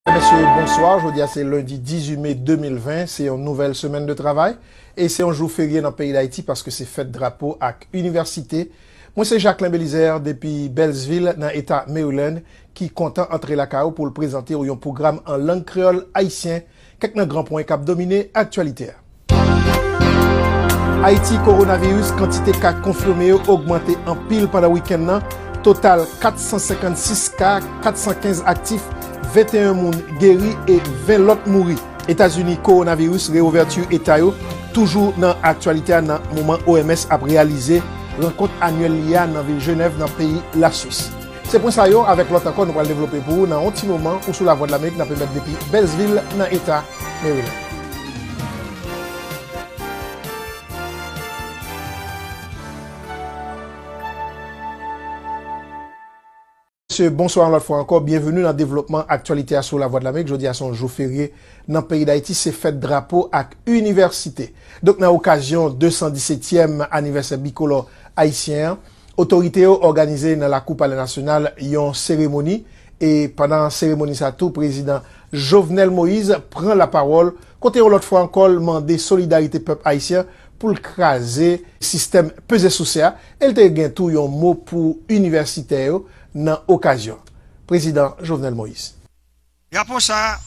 Mesye yo bonswa, jodi a se lendi 18 me 2020, se yon nouvèl semèn de travay e se yon jou ferye nan peyi Dayiti paske se fèt drapo ak inivèsite. Mwen se Jacquelin Belizaire depi Bèlsvil nan eta Maryland ki kontan antre lakay ou pou l prezante ou yon pwogram an lang kreyòl ayisyen Kèk nan gran pwen k ap domine aktyalite a. Ayiti, Kowonaviris, Kantite ka konfime yo ogmante anpil pandan wikenn nan, total 456 ka, 415 aktif, 21 moun geri e 20 lòt mouri. Etazini, Kowonaviris, Reouvèti eta yo toujou nan aktyalite a nan moman OMS ap reyalize rankont anyèl li a nan vil Jenèv nan peyi Laswis. Se pwen sa yo avèk lòt ankò nou pral devlope pou ou nan yon ti moman ou sou Lavwadlamerik nap emèt depi Beltsvil nan eta Maryland. Mesye bonswa yon lòt fwa ankò, byenveni nan devlopman aktyalite a sou Lavwadlamerik, jodi a se yon jou ferye nan peyi Dayiti se fèt drapo ak inivèsite. Donk nan okazyon 217 tièm anivèsè bikolò ayisyen an, Otorite yo òganize nan lakou palè nasyonal yon seremoni e pandan seremoni sa tou prezidan Jovenel Moise pran lapawòl kote yon lòt fwa ankò l mande solidarite pèp ayisyen pou l kraze sistèm peze souse a e l te gen tou yon mo pou inivèsitè yo nan okazyon an. Prezidan Jovenel Moise. Drapo sa a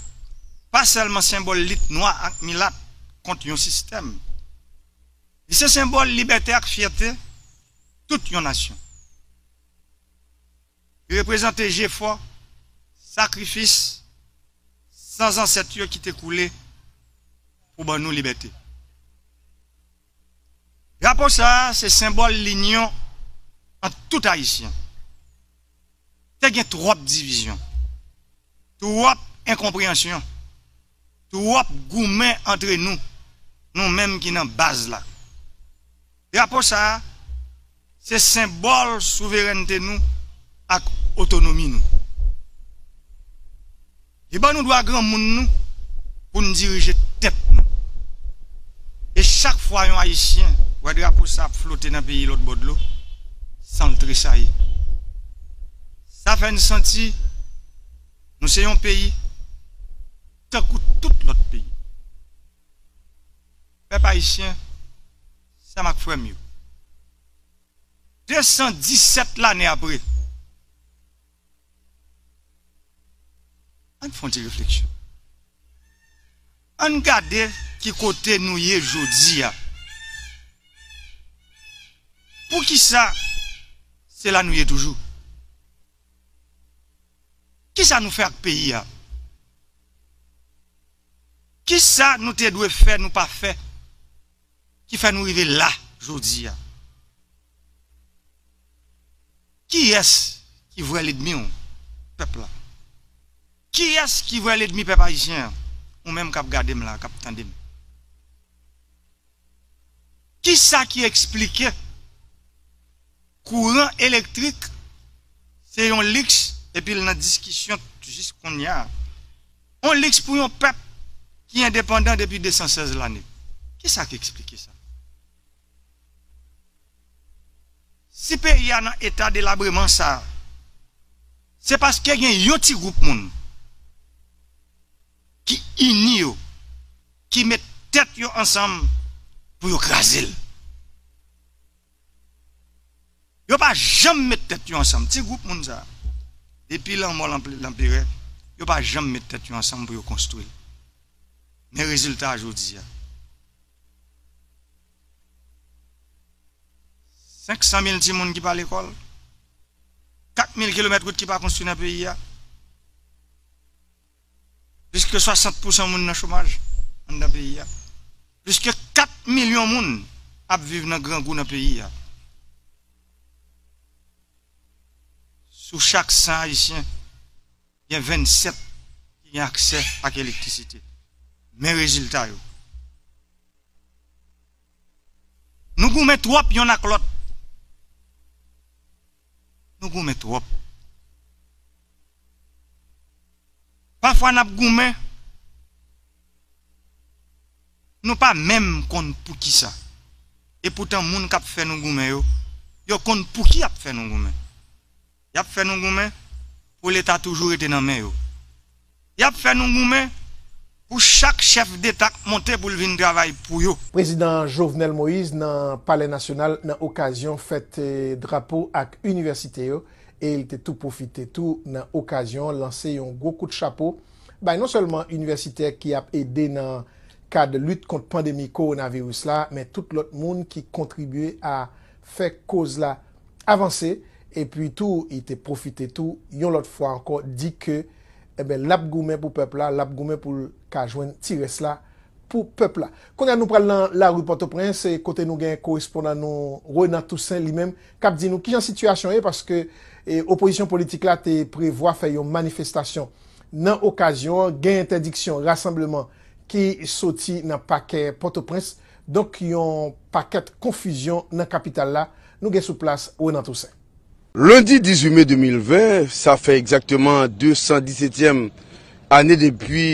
pa sèlman senbòl lit nwa ak milat kont yon sistèm. Li se senbòl libète ak fyète tout yon nasyon. Li reprezante jefò, sakrifis san zansèt yo ki te koule pou ban nou libète. Drapo sa a se senbòl linyon ant tout Ayisyen. Te gen twòp divizyon, twòp enkonpreyansyon, twòp goumen antre nou, nou menm ki nan baz la. Drapo sa a. Se senbòl souverènte nou ak otonomi nou. Li ban nou dwa granmoun nou pou n dirije tèt nou. E chak fwa yon Ayisyen wè drapo sa ap flote nan peyi lòtbò dlo, san l tresayi. Sa fè n santi nou se yon peyi tankou tout lòt peyi. Pèp Ayisyen. Sè m ak frè m yo, 217 lane apre, ann fè yon ti refleksyon. Ann gade ki kote nou ye jodi a. Poukisa se la nou ye toujou? Kisa nou fè ak peyi a? Kisa nou te dwe fè nou pa fè? ki fè nou rive la jodi a. Kiyès ki vrè ledmi w pèp la? Kiyès ki vrè ledmi pèp ayisyen an? Ou menm kap gade m la, kap tande m. Kisa ki eksplike? Kouran elektrik se yon liks epi l nan diskisyon jis konnya. On liks pou yon pèp ki endepandan depi 216 lane. Kisa k eksplike sa? Si peyi a nan eta delabreman sa, se paske gen yon ti gwoup moun ki ini yo, ki met tèt yo ansanm pou yo kraze l. Yo pa janm met tèt yo ansanm ti gwoup moun sa depi lanmò lanperè yo pa janm met tèt yo ansanm pou yo konstwi l men rezilta jodi a 500 mil ti moun ki pa lekòl 4 mil kilomèt wout ki pa konstwi nan peyi a. Plis ke 60 pousan moun nan chomaj anndan peyi a. Plis ke 4 milyon moun ap viv nan grangou nan peyi a. Sou chak 100 ayisyen, gen 27 ki gen aksè ak elektrisite. Men rezilta yo. Nou goumen twòp yonn ak lòt. Nou goumen twòp. Pafwa nap goumen Nou pa menm konn poukisa e poutan moun kap fè Nou goumen yo yo konn pouki yap fè Nou goumen yap fè Nou goumen pou leta toujou rete nan men yo. Y ap fè nou goumen pou chak chèf deta k monte pou l vin travay pou yo. Prezidan Jovenel Moïse nan Palè Nasyonal nan okazyon fèt drapo ak inivèsite yo e l te tou pwofite tou nan okazyon an lanse yon gwo kout chapo bay non sèlman inivèsitè ki ap ede nan kad lit kont pandemi kowonaviris la men tout lòt moun ki kontribye a fè koz la avanse epi tou li te pwofite tou yon lòt fwa ankò di ke Enben lap goumen pou pèp la, lap goumen poul ka jwenn ti rès la pou pèp la. Kounye a nou pral nan lari Pòtoprens e kote nou gen korespondan nou Renan Toussaint li menm kap di nou kijan sitiyasyon ye paske opozisyon politik la te prevwa fè yon manifestasyon nan okazyon an gen entèdiksyon rasanbleman ki soti nan pakè Pòtoprens donk yon pakèt konfizyon nan kapital la nou gen sou plas Renan Toussaint. Lendi 18 me 2020, sa fè egzakteman 217 èm ane depi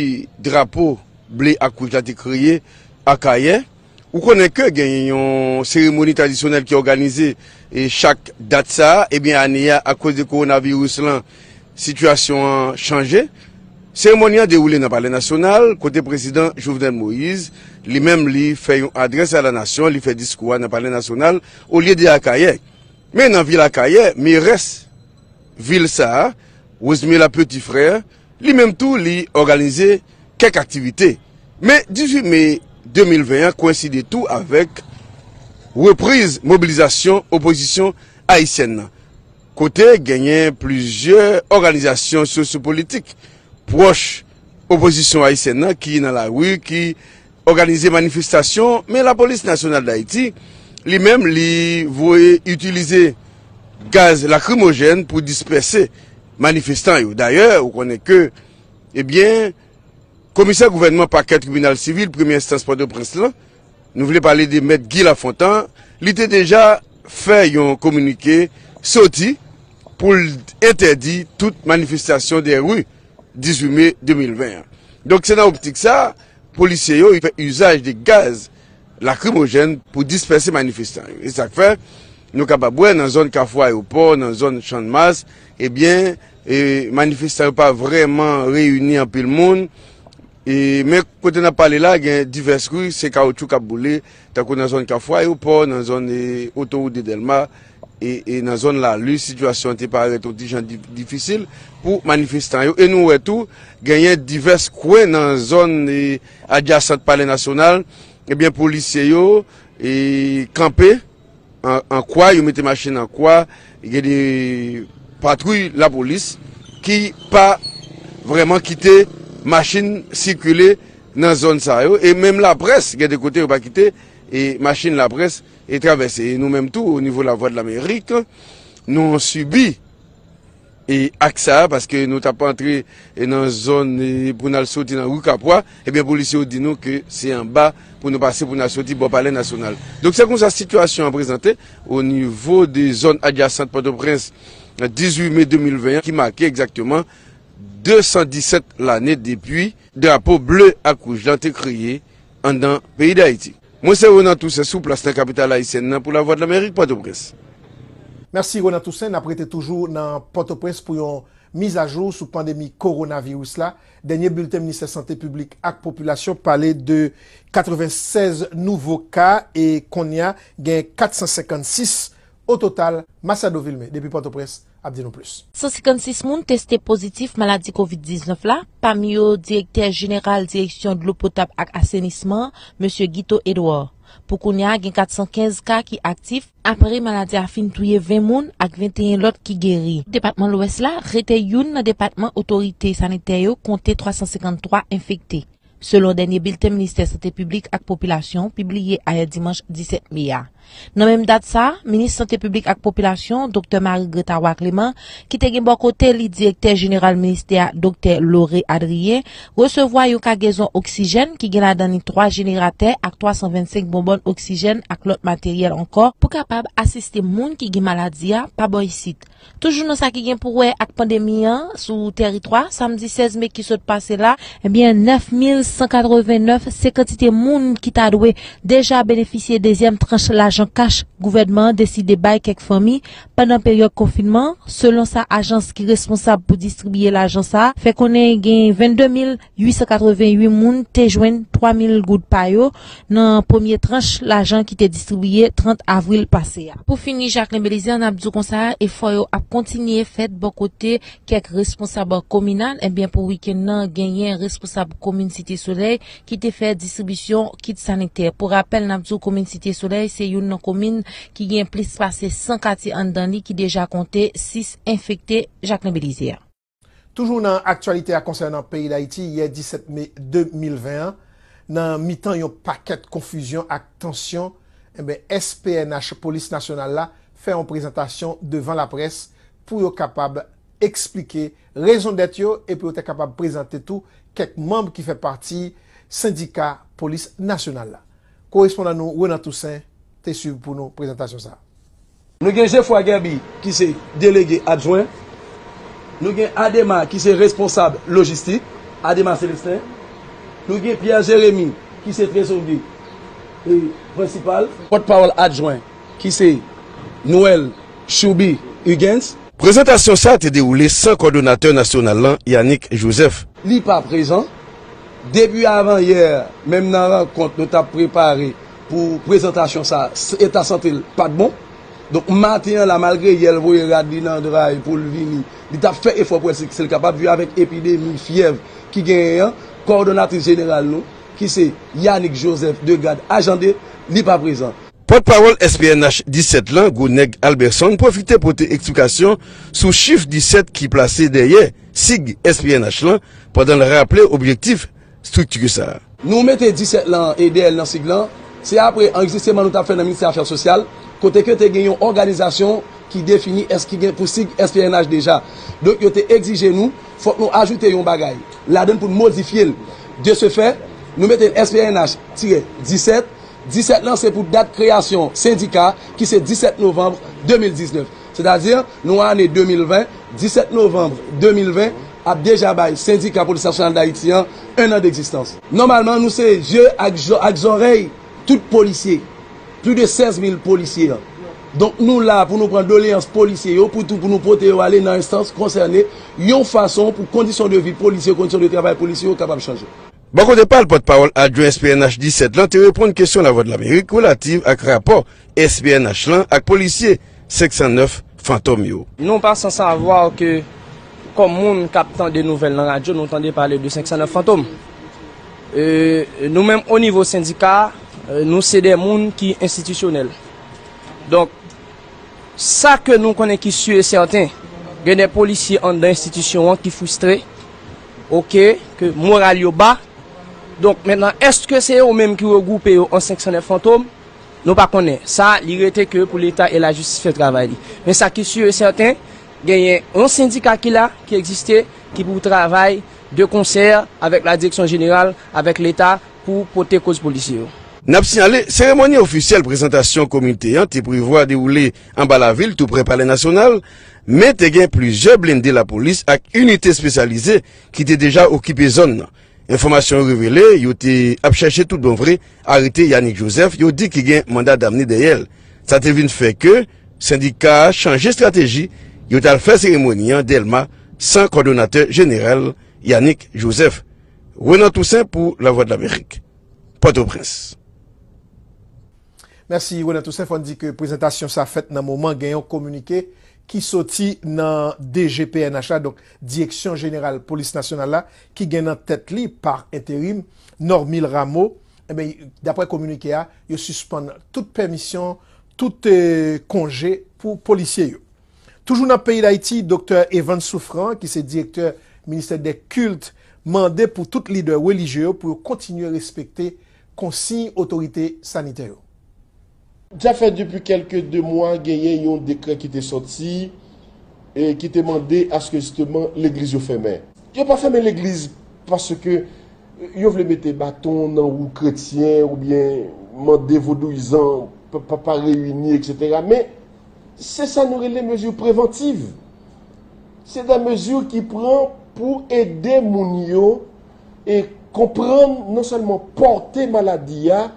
drapo ble ak wouj la te kreye Akayè. Ou konnen ke genyen yon seremoni tradisyonèl ki òganize chak dat sa a, ebyen ane a akoz de kowonaviris lan sitiyasyon an chanje. Seremoni an dewoule nan palè nasyonal kote prezidan Jovenel Moise li menm li fè yon adrès a la nasyon, li fè diskou a nan palè nasyonal olye de Akayè. Men nan vil Akayè, merès vil sa a, Rosemila Petit Frère, li menm tou li òganize kèk aktivite. Men 18 me 2020 an kowenside tou avèk repriz mobilizasyon opozisyon ayisyèn nan, kote genyen plizyè òganizasyon sosyo-politik pwòch opozisyon ayisyèn nan ki nan lari, ki. òganize manifestasyon men lapolis nasyonal dayiti li menm li voye itilize gaz lakrimojèn pou dispèse manifestan yo dayè ou konnen ke ebyen komisè gouvènman pakè tribinal sivil premye enstans pòtoprens lan nou vle pale de mèt Guy Lafontan li te deja fè yon kominike soti pou l entèdi tout manifestasyon de ru 18 me 2020 an donk se nan optik sa. Polisye yo fè uzaj de gaz lakrimojèn pou dispèse manifestan yo. E sak fè nou kapab wè nan zòn kafou ayewopò, nan zòn channmas, ebyen manifestan yo pa vrèman reyini anpil moun. E men kote nap pale la gen divès ri se kawotchou kap boule. Tankou nan zòn Kafou Ayewopò, nan zòn Otowout de Dèlma e nan zòn Lalu, sitiyasyon an te parèt yon ti jan difisil pou manifestan yo. E nou wè tou, genyen divès kwen nan zòn adjasant Palè Nasyonal, ebyen polisye yo kanpe. an kwa, yo mete machin an kwa, gen de patwouy lapolis ki pa vreman kite machin sikile nan zòn sa yo, e menm laprès gen de kote yo pa kite e machin laprès e travèse, e nou menm tou o nivo lavwadlamerik nou sibi. E ak sa a, paske nou t ap antre nan zòn pou n al soti nan ri Kapwa, ebyen polisye yo di nou ke se anba pou nou pase pou n al soti bò palè nasyonal. Donk se konsa sitiyasyon an prezante onivo de zòn adjasant Pòtoprens 18 me 2020 an ki make egzakteman 217 lane depi drapo ble ak wouj lan te kreye anndan peyi Dayiti. Mwen se Renan Toussaint sou plas nan kapital ayisyèn nan pou Lavwadlamerik, Pòtoprens. Mèsi Renan Toussaint, n ap rete toujou nan Pòtoprens pou yon mizajou sou pandemi kowonaviris la. Dènye bilten Ministè Sante Piblik ak Popilasyon pale de 96 nouvo ka e konnya gen 456 ototal. Masiado Vilmé depi Pòtoprens. ap di nou plis. 156 moun teste pozitif maladi kovid 19 la, pami yo direktè jeneral direksyon dlo potab ak asenisman an, Mesye Guito Edouard. Pou kounye a gen 415 ka ki aktif, apre maladi a fin touye 20 moun ak 21 lòt ki geri. Depatman Lwès la rete youn nan depatman otorite sanitè yo konte 353 enfekte. selon dènye bilten Ministè Sante Piblik ak Popilasyon pibliye ayè dimanch 17 me a. Nan menm dat sa, Minis Sante Piblik ak Popilasyon, Doktè Marie Gretta Roy Clément, ki te gen bò kote li Direktè Jeneral Ministè a Doktè Lauré Adrien, resevwa yon kagezon oksijèn ki gen ladan li 3 jeneratè ak 325 bonbòn oksijèn ak lòt materyèl ankò, pou kapab asiste moun ki gen maladi a pa bò isit. Toujou nan sa ki gen pou wè ak pandemi an sou tèritwa, samdi 16 me ki sot pase la, ebyen 9189 se kantite moun ki ta dwe deja benefisye dezyèm tranch lajan kach gouvènman an deside bay kèk fanmi pandan peryòd konfinman an, selon sa ajans ki responsab pou distribiye lajan sa fè konnen gen 22000. 888 moun te jwenn 3 mil goud pa yo nan premye tranch lajan ki te distribiye 30 avril pase a. Pou fini, Jacquelin Belizaire, n ap di w konsa, efò yo ap kontinye fèt bò kote kèk responsab kominal, enben pou wikenn nan genyen responsab komin Site Solèy ki te fè distribisyon kit sanitè. Pou rapèl, n ap di w komin Site Solèy se youn nan komin ki gen plis pase 100 katye anndan li ki deja konte 6 enfekte Jacquelin Belizaire. Toujou nan aktyalite a konsènan peyi Dayiti, yè 17 me 2020 an, nan mitan yon pakèt konfizyon ak tansyon, enben s pnh Polis Nasyonal la fè yon prezantasyon devan laprès pou yo kapab eksplike rezondèt yo e pou yo te kapab prezante tou kèk manb ki fè pati sendika Polis Nasyonal la. Korespondan nou Renan Toussaint te swiv pou nou prezantasyon sa a. Nou gen Geoffroy Guerby ki se Delege Adjwen. Nou gen Adema ki se Responsab Lojistik, Adema Celestin. Nou gen Pierre Jeremy ki se Trezorye Prensipal. Pòtpawòl Adjwen ki se Noel Chouby Huguens. Prezantasyon sa te dewoule san Kòdonatè Nasyonal lan, Yanick Joseph. Li pa prezan. Depi avan yè, menm nan rankont nou t ap prepare pou prezantasyon sa eta sante l pat bon donk maten an la malgre yè l voye rad li nan dray pou l vini li tap fè efò pou èske l kapab viv avèk epidemi fyèv ki genyen an kòdonatris jeneral nou ki se Yanick Joseph Degade Ajande li pa prezan. Pòtpawòl SPNH 17 lan Gwo Nèg Alberson pwofite pote eksplikasyon sou chif 17 ki plase dèyè sig SPNH lan pandan l raple objektif strikti sa a. Nou mete 17 lan an, EDL nan sig lan, se apre anrejistreman nou t ap fè nan Ministè Afè Sosyal, kote ke te gen yon òganizasyon ki defini es ki gen pou sig SPNH deja. Donk yo te egzije nou, fòk nou ajoute yon bagay ladann pou n modifye l. De se fè, nou mete l SPNH tirè 17. 17 lan se pou dat kreyasyon sendika ki se 17 novanb 2019. Sètadi, nou an ane 2020, 17 novanm 2020 ap deja bay Sendika Polis Nasyonal Dayiti an 1 an degzistans. Nòmalman, nou se zye ak zòrèy tout polisye, plis de 16 mil polisye an. Donk nou la pou nou pran doleyans polisye yo pou tou pou nou pote yo ale nan enstans konsène yon fason pou kondisyon de vi polisye, kondisyon de travay polisye yo kapab chanje. Bò kote pa l, pòtpawòl adjwen SPNH 17 lan te reponn kesyon Lavwadlamerik relativ ak rapò SPNH lan ak polisye 509 Fantom yo. Nou pa san savwa ke kòm moun k ap tande nouvèl nan radyo nou tande pale de 509 Fantom. Nou menm o nivo sendika a, nou se de moun ki enstitisyonèl. Donk, sa ke nou konnen ki si e sèten, gen de polisye anndan enstitisyon an ki fristre, Ok ke moral yo ba. Donk mentnan eske se yo menm ki regwoupe yo an 509 fantom? Nou pa konnen. Sa li rete ke pou leta e lajistis fè travay li. Men sa ki su e sèten genyen yon sendika ki la, ki egziste, ki pou travay de konsè avèk la direksyon jeneral, avèk leta pou pote koz polisye yo. N ap siyale, seremoni ofisyèl prezantasyon komite an te prevwa dewoule anba lavil tou prè palè nasyonal. Men te gen plizyè blende lapolis ak inite espesyalize ki te deja okipe zòn nan. Enfòmasyon yo revele yo te ap chèche tout bon vre arete Yanick Joseph yo di ki gen manda damne dèyè l. Sa te vin fè ke sendika a chanje estrateji, yo t al fè seremoni an Dèlma san kòdonatè jeneral Yanick Joseph. Renan Toussaint pou Lavwadlamerik, Pòtoprens. Mèsi Ronel Toussaint, fò n di ke prezantasyon sa fèt nan moman gen yon kominike ki soti nan DG pnh la, donk Direksyon Jeneral Polis Nasyonal la, ki gen nan tèt li, pa enterim, Normil Rameau, enben, daprè kominike a, yo sispann tout pèmisyon, tout konje pou polisye yo. Toujou nan peyi Dayiti, Doktè Evans Souffrant, ki se Direktè Ministè dè Kilt, mande pou tout lidè relijye yo pou yo kontinye respekte. konsiy otorite sanitè yo. Sa fè depi kèlke 2 mwa genyen yon dekrè ki te sòti ki te mande aske jisteman legliz yo fèmen. Yo pa fèmen legliz paske yo vle mete baton nan wou kretyen oubyen mande vodouyizan pa reyini eksetera men se sa nou rele mezi prevantiv. Se de mezi ki pran pou ede moun yo e konprann non sèlman pòte maladi a,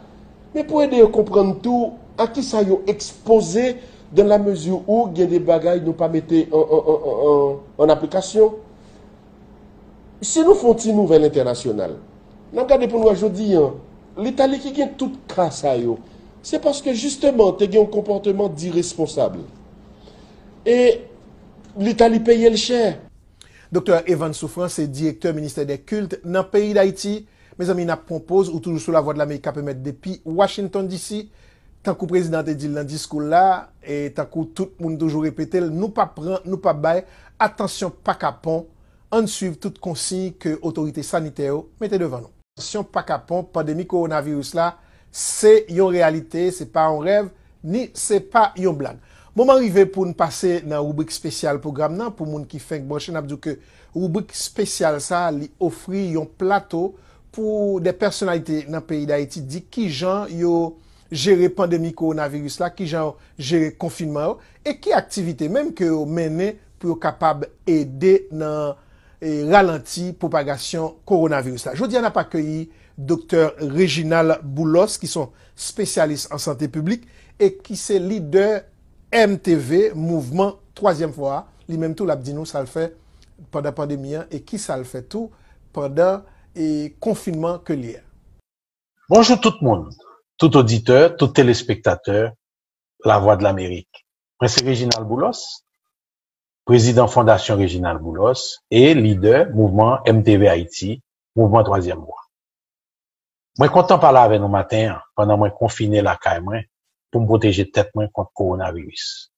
men pou ede yo konprann tou a ki sa yo ekspoze dan la mezi ou gen de bagay nou pa mete an aplikasyon. Si nou fè yon ti nouvèl entènasyonal, n ap gade pou n wè jodi an, Litali ki gen tout ka sa yo, se paske jisteman te gen yon konpòteman diresponsab. E Litali peye l chè. Doktè Evans Souffrant se direktè ministè dè kilt nan peyi Dayiti. Mezanmi nap pwan poz ou toujou sou lavwadlamerik kap emèt depi Washington DC. Tankou prezidan an te dil nan diskoul la e tankou tout moun toujou repetel nou pap pran nou pap bay atansyon pa kapon ann swiv tout konsiy ke otorite sanitè yo mete devan nou. Atansyon pa kapon pandemi kowonaviris la se yon reyalite se pa yon rèv. Ni se pa yon blag. Moman rive pou n pase nan ribrik spesyal pwogram nan. Pou moun ki fenk branche n ap di w ke ribrik spesyal sa a li ofri yon plato pou de pèsonalite nan peyi Dayiti di kijan yo jere pandemi kowonaviris la, kijan yo jere konfinman yo e ki aktivite menm ke yo mennen pou yo kapab ede nan ralanti pwopagasyon kowonaviris la. Jodi a n ap akeyi Doktè Reginald Boulos ki s on spesyalis an sante piblik e ki se lidè MTV, Mouvman Twazyèm Fò a, li menm tou l ap di nou sa l fè pandan pandemi an e kisa l fè tou pandan konfinman ke l ye a. Bonjou tout moun, tout oditè, tout telespektatè Lavwadlamerik. Mwen se Reginald Boulos, prezidan Fondasyon Reginald Boulos e lidè mouvman MTV Ayiti, Mouvman Twazyèm Vwa. Mwen kontan pale avè nou maten an pandan mwen konfine lakay mwen pou m pwoteje tèt mwen kont kowonaviris.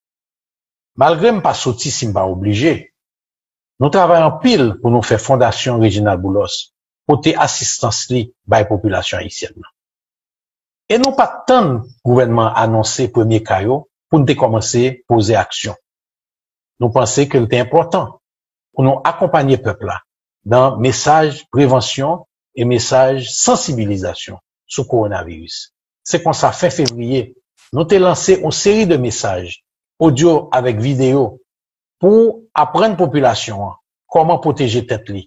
Malgre m pa soti si m pa oblije, nou travay anpil pou nou fè Fondasyon Reginald Boulos pote asistans li bay popilasyon ayisyèn nan. E nou pa t tann gouvènman an anonse premye ka yo pou n te kòmanse poze aksyon. Nou panse ke l te enpòtan pou nou akonpanye pèp la nan mesaj prevansyon e mesaj sansibilizasyon sou kowonaviris. Se konsa fen fevriye, nou te lanse on seri de mesaj, odyo avèk videyo, pou aprann popilasyon an kòman pwoteje tèt li,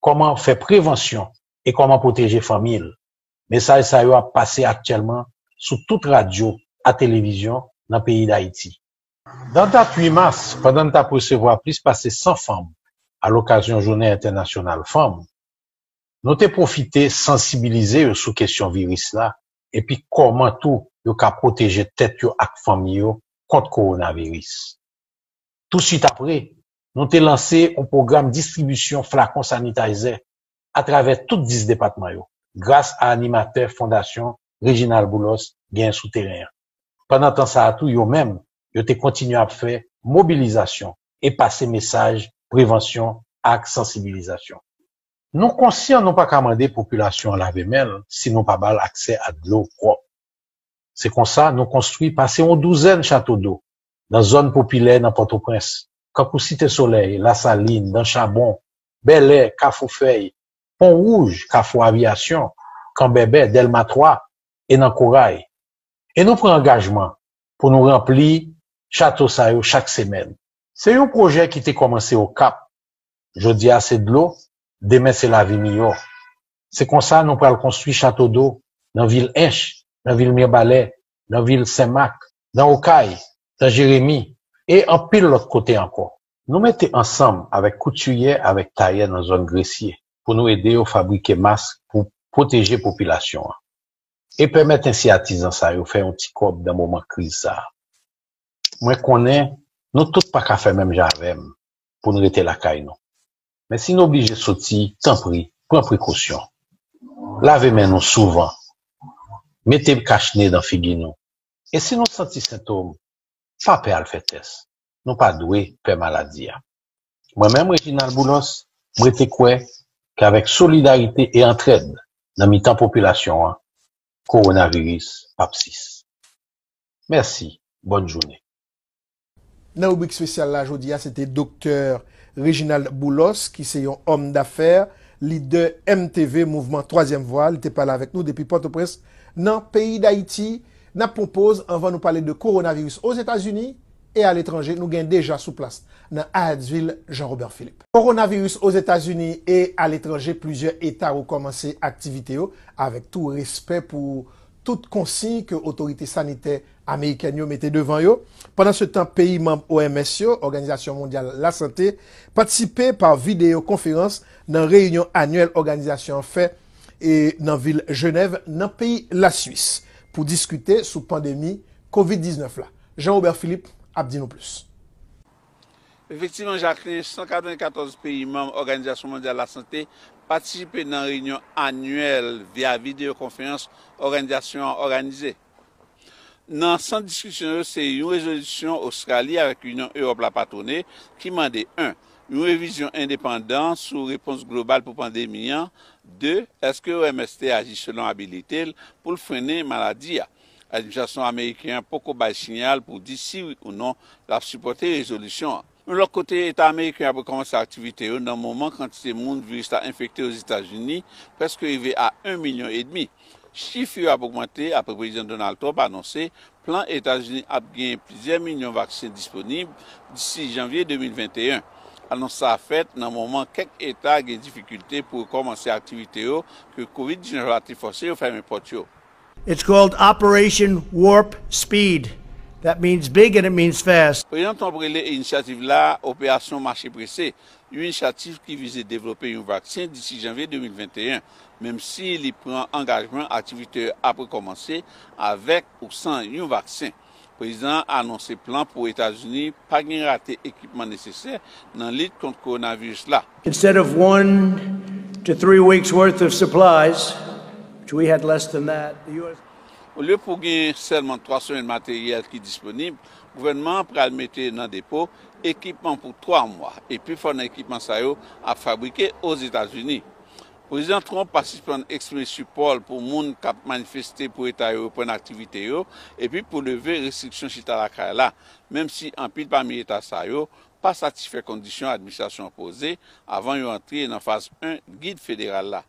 kòman fè prevansyon e kòman pwoteje fanmi l. Mesaj sa yo ap pase aktyèlman sou tout radyo a televizyon nan peyi Dayiti. Nan dat 8 mas, pandan n t ap resevwa plis pase 100 fanm a lokazyon Jounen Entènasyonal Fanm, nou te pwofite sansibilize yo sou kesyon viris la epi kòman tou yo ka pwoteje tèt yo ak fanmi yo kont kowonaviris. Tousuit apre, nou te lanse yon pwogram distribisyon flakon sanitayzè atravè tout 10 depatman yo, gras a animatè Fondasyon Reginald Boulos genyen sou teren an. Pandan tan sa a tou yo menm, yo te kontinye ap fè mobilizasyon e pase mesaj prevansyon ak sansibilizasyon. Nou konsyan nou pa ka mande popilasyon an lave men l si nou pa ba l aksè a dlo pwòp. Se konsa nou konstwi pase yon douzèn chato do nan zòn popilè nan Pòtoprens, kankou Site Solèy, Lasalin, Dan Chabon, Bèlè, Kafou Fèy, Pon Wouj, Kafou Aviyasyon, Kanbèbè, Dèlma 3 e nan Koray. E nou pran angajman pou nou ranpli chato sa yo chak semèn. Se yon pwojè ki te kòmanse Okap. Jodi a se dlo, demen se lavi miyò. Se konsa nou pral konstwi chato do nan vil Ench, nan vil Mirbalè, nan vil Senmak, nan Okay, nan Jeremi e anpil lòt kote ankò. Nou mete ansanm avèk koutiyè avèk tayè nan zòn Gresye pou nou ede yo fabrike mask pou pwoteje popilasyon an e pèmèt ensi atizan sa yo fè yon ti kòb nan moman kriz sa a. Mwen konnen nou tout pa ka fè menm jan avè m pou n rete lakay nou. Men si n oblije soti, tanpri pran prekosyon. Lave men nou souvan, mete kach ne nan figi nou e si nou santi sentom, pa pè al fè tès. nou pa dwe pè maladi a. Mwen menm Reginald Boulos, m rete kwè ke avèk solidarite e antrèd nan mitan popilasyon an, kowonaviris pa p sis. Mèsi, bòn jounen. Nan ribrik spesyal la jodi a se te Doktè Reginald Boulos ki se yon òm dafè, lidè MTV, Mouvman Twazyèm Vwa, li te pale avèk nou depi Pòtoprens nan peyi Dayiti. N ap pran yon poz anvan nou pale de kowonaviris Ozetazini e aletranje nou gen deja sou plas nan Hyattsville Jean Robert Philippe. Kowonaviris Ozetazini e aletranje Plizyè eta rekòmanse aktivite yo avèk tou respè pou tout konsiy ke otorite sanitè amerikèn yo mete devan yo. Pandansetan peyi manm OMS yo, Òganizasyon Mondyal Lasante, patisipe pa videyo konferans nan reyinyon anyèl òganizasyon an fè nan vil Jenèv nan peyi Laswis pou diskite sou pandemi Covid 19 la. Jean Robert Philippe ap di nou plis. Efektivman, Jacqueline, 194 peyi manm Òganizasyon Mondyal Lasante patisipe nan reyinyon anyèl via videyokonferans òganizasyon an òganize. Nan sant diskisyon yo se yon rezolisyon Ostrali avèk Inyon Ewòp la patwone ki mande 1 yon revizyon endepandan sou repons global pou pandemi an 2 èske OMS te aji selon abilite l pou l frennen maladi a. Administrasyon ameriken an poko bay siyal pou di si wi ou non l ap sipòte rezolisyon an. Yon lòt kote, Eta ameriken yo ap rekòmanse aktivite yo nan moman kantite moun viris la enfekte Ozetazini prèske rive a 1 milyon edmi. Chif yo ap ogmante apre Prezidan Donald Trump anonse plan Etazini ap genyen plizyè milyon vaksen disponib disi janvye 2021. Anons sa a fèt nan moman kèk eta gen difikilte pou rekòmanse aktivite yo ke Covid 19 la te fòse yo fèmen pòt yo. It's called Operation Warp Speed, that means big and it means fast. Prezidan Trump rele inisyativ la Operasyon Mache Prese, yon inisyativ ki vize devlope yon vaksen disi janvye 2021, menmsi li pran angajman aktivite yo ap rekòmanse avèk ou san yon vaksen. Prezidan an anonse plan pou Etazini pa gen rate ekipman nesesè nan lit kont kowonaviris la. Instead of one to three weeks worth of supplies, which we had less than that, the U.S. Olye pou gen sèlman 3 semèn materyèl ki disponib, gouvènman an pral mete nan depo ekipman pou 3 mwa, e pifò nan ekipman sa yo ap fabrike Ozetazini. Prezidan Trump pa sispann eksprime sipò l pou moun k ap manifeste pou eta yo reprann aktivite yo epi pou leve restriksyon chita lakay la, menm si anpil pami eta sa yo pa satisfè kondisyon administrasyon an poze avan yo antre nan faz 1 gid federal la.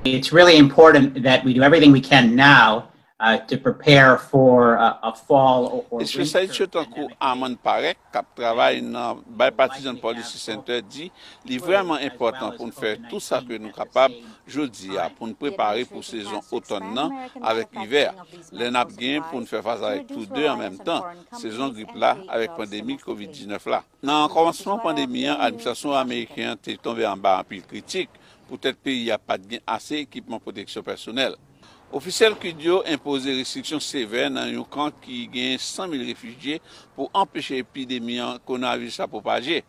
It's really important that we do everything we can now Espesyalis yo tankou Armand Parekh k ap travay nan Bipartisan Policy Center di li vrèman enpòtan pou n fè tout sa ke nou kapab jodi a pou n prepare pou sezon otòn nan avèk ivè a, lè n ap gen pou n fè fas avèk tou de an menm tan, sezon grip la avèk pandemi covid 19 la. Nan kòmansman pandemi an, administrasyon ameriken an te tonbe anba anpil kritik poutèt peyi a pa t gen ase ekipman pwoteksyon pèsonèl. Ofisyèl kud yo enpoze restriksyon sevè nan yon kan ki gen 100 mil refijye pou anpeche epidemi kowonaviris la pwopaje.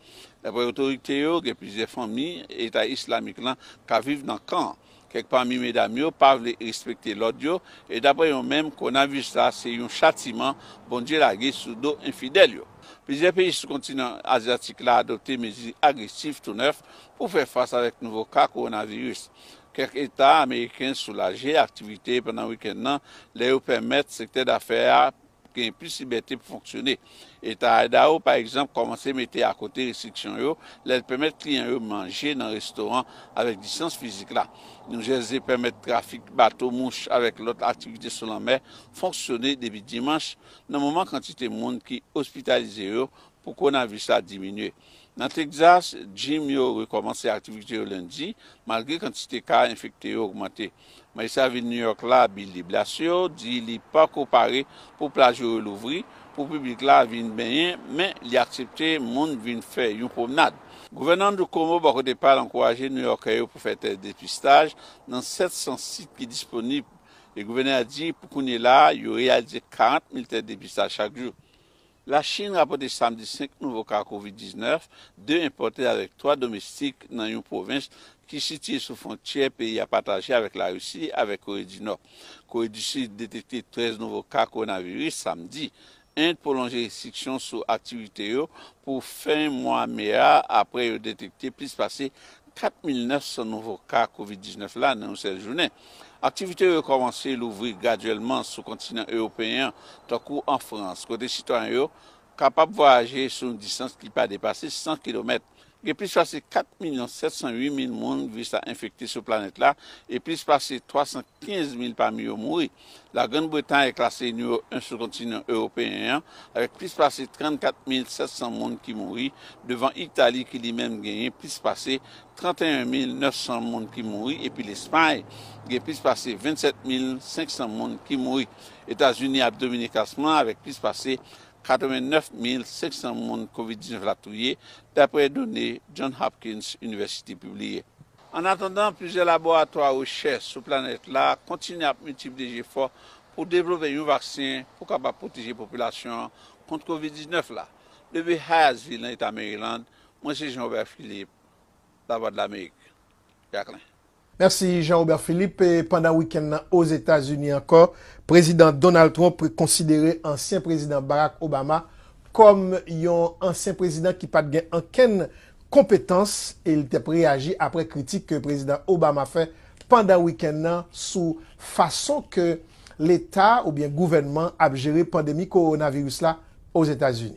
Daprè otorite yo, gen plizyè fanmi Eta Islamik lan k ap viv nan kan an. Kèk pami medam yo pa vle respekte lòd yo, e daprè yo menm, kowonaviris la se yon chatiman Bondye lage sou do enfidèl yo. Plizyè peyi sou kontinan azyatik la adopte mezi agresif tou nèf pou fè fas avèk nouvo ka kowonaviris. Kèk eta ameriken soulaje aktivite pandan wikenn nan lè yo pèmèt sektè dafè a genyen plis libète pou fonksyone. Eta Idaho, pa egzanp, kòmanse mete akote restriksyon yo lè l pèmèt kliyan yo manje nan restoran avèk distans fizik la. New Jersey pèmèt trafik bato mouch avèk lòt aktivite sou lanmè fonksyone depi dimanch, nan moman kantite moun ki ospitalize yo pou kowonaviris la diminye. Nan Texas, jim yo rekòmanse aktivite yo lendi, malgre kantite ka enfekte yo ogmante. Majistra vil New York la, Bill de Blasio, di li pako pare pou plaj yo relouvri pou piblik la vin benyen, men li aksepte moun vin fè yon pwomnad. Gouvènè Andrew Cuomo bò kote pa l ankouraje Nouyòkè yo pou fè tès depistaj nan 700 sit ki disponib e gouvènè a di pou kounyela a yo reyalize 40 mil tès depistaj chak jou. La Chin rapòte samdi 5 nouvo ka kovid 19, 2 enpòte avèk 3 domestik nan yon pwovens ki sitye sou fwontyè peyi a pataje avèk Larisi avèk Kore di Nò. Kore di Sid detekte 13 nouvo ka kowonaviris samdi. End pwolonje restriksyon sou aktivite yo pou fen mwa me a apre yo detekte plis pase 4,900 nouvo ka kovid 19 la nan yon sèl jounen. Aktivite yo rekòmanse louvri gradyèlman sou kontinan ewopeyen an, tankou an Frans, kote sitwayen yo kapab vwayaje sou yon distans ki pa depase 100 kilomèt. Gen plis pase 4 milyon 708 mil moun viris la enfekte sou planèt la e plis pase 315 mil pami yo mouri. La Grann Bretay klase nimewo 1 sou kontinan ewopeyen an avèk plis pase 34 mil 700 moun ki mouri, devan Itali ki li menm genyen plis pase 31 mil 900 moun ki mouri epi Lespay gen plis pase 27 mil 500 moun ki mouri. Etazini ap domine klasman an avèk plis pase 89 mil 500 moun Kovid 19 la touye, dapre done John Hopkins University pibliye. Annatandan, plizyè laboratwa rechèch sou planèt la kontinye ap miltipliye jefò pou devlope yon vaksen pou kapab pwoteje popilasyon an kont Kovid 19 la. Leve Hyattsville nan Eta Maryland, Mwen se Jean Robert Philippe, Lavwadlamerik, Jaklen. Mèsi Jean Robert Philippe. Pandan wikenn nan Ozetazini ankò, Prezidan Donald Trump konsidere ansyen Prezidan Barack Obama kòm yon ansyen prezidan ki pat gen ankenn konpetans e li tep reyaji apre kritik ke Prezidan Obama fè pandan wikenn nan sou fason ke leta oubyen gouvènman ap jere pandemi kowonaviris la Ozetazini.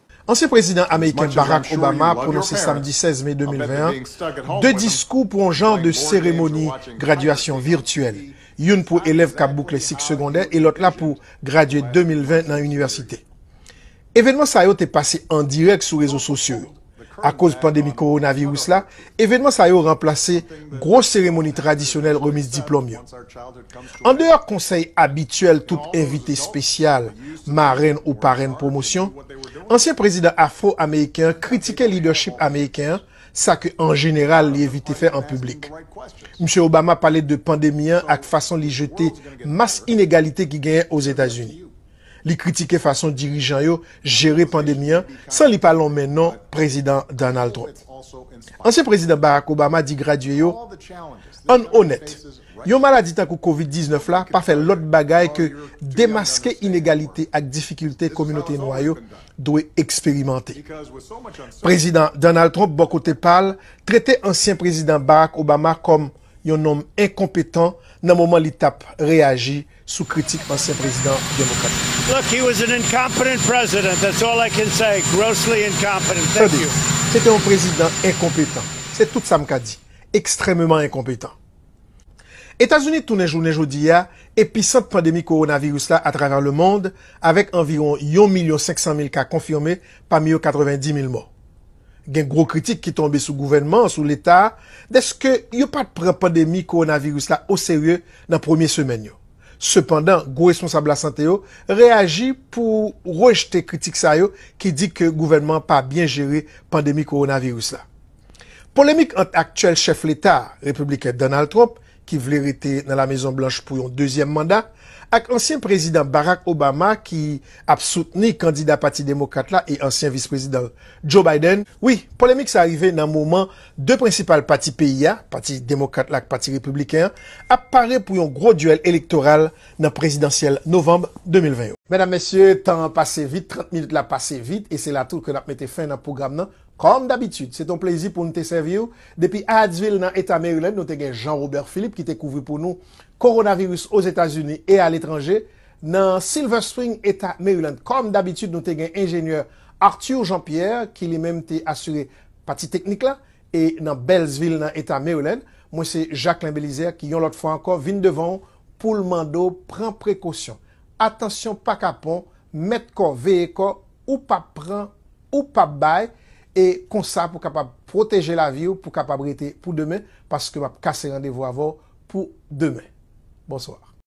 Ansyen Prezidan Ameriken Barack Obama pwononse samdi 16 me 2020 an 2 diskou pou yon jan de seremoni gradyasyon virtyèl, youn pou elèv k ap boukle sik segondè e lòt la pou gradye 2020 nan inivèsite. Evenman sa yo te pase an dirèk sou rezo sosyo yo. Akoz pandemi kowonaviris la, Evenman sa yo ranplase gwo seremoni tradisyonèl remiz diplòm yo. Andeyò konsèy abityèl tout envite spesyal, marenn ou parenn pwomosyon, ansyen prezidan afro-ameriken an kritike lidèchip ameriken an, sa ke an jeneral li evite fè an piblik. Msye Obama pale de pandemi an ak fason li jete mas inegalite ki genyen Ozetazini. Li kritike fason dirijan yo jere pandemi an san li pa lonmen non Prezidan Donald Trump. Ansyen Prezidan Barack Obama di gradye yo, Ann onèt, yon maladi tankou Covid 19 la pa fè lòt bagay ke demaske inegalite ak difikilte kominote nwa yo dwe eksperimante. Prezidan Donald Trump bò kote pa l trete ansyen Prezidan Barack Obama kòm yon nonm enkonpetan nan moman li t ap reyaji sou kritik ansyen prezidan demokrat la. Look, he was an incompetent president, that's all I can say, grossly incompetent. Thank Tande, you. se te yon prezidan enkonpetan, se tout sa m ka di, ekstrèmeman enkonpetan. Etazini tounen jounen jodi a episant pandemi kowonaviris la atravè lemond avèk anviwon yon milyon 500 mil ka konfime pami yo 90 mil mò. Gen gwo kritik ki tonbe sou gouvènman an, sou Leta a, dèske yo pa t pran pandemi kowonaviris la oserye nan premye semèn yo. Sepandan, gwo responsab lasante yo reyaji pou rejte kritik sa yo ki di ke gouvènman an pa byen jere pandemi kowonaviris la. Polemik ant aktyèl chèf Leta a, repibliken Donald Trump, ki vle rete nan La Mezon Blanch pou yon dezyèm manda, ak ansyen Prezidan Barack Obama ki ap soutni kandida Pati Demokrat la e ansyen Vis Prezidan l, Joe Biden. Wi, polemik sa rive nan moman 2 prensipal pati peyi a, Pati Demokrat la ak Pati Repibliken an, ap pare pou yon gwo duèl elektoral nan prezidansyèl novanm 2020 yo. Medam, Mesye, tan an pase vit, 30 minit la pase vit, e se la tou ke n ap mete fen nan pwogram nan Kòm dabitid, se te yon plezi pou n te sèvi w. Depi Hyattsville, nan Eta Maryland, nou te gen Jean Robert Philippe ki te kouvri pou nou Kowonaviris Ozetazini e aletranje. Nan Silver Spring, Eta Maryland, kòm dabitid, nou te gen Enjenyè Arthur Jean Pierre ki li menm te asire pati teknik la. E nan Beltsville, nan Eta Maryland, mwen se Jacquelin Belizaire ki yon lòt fwa ankò vin devan w pou l mande w pran prekosyon. Atansyon pa kapon, mèt kò, veye kò! ou pap pran, ou pap bay, e konsa pou kapab pwoteje laviw pou kapab rete pou demen paske map kase randevou avèw pou demen. Bonsoir.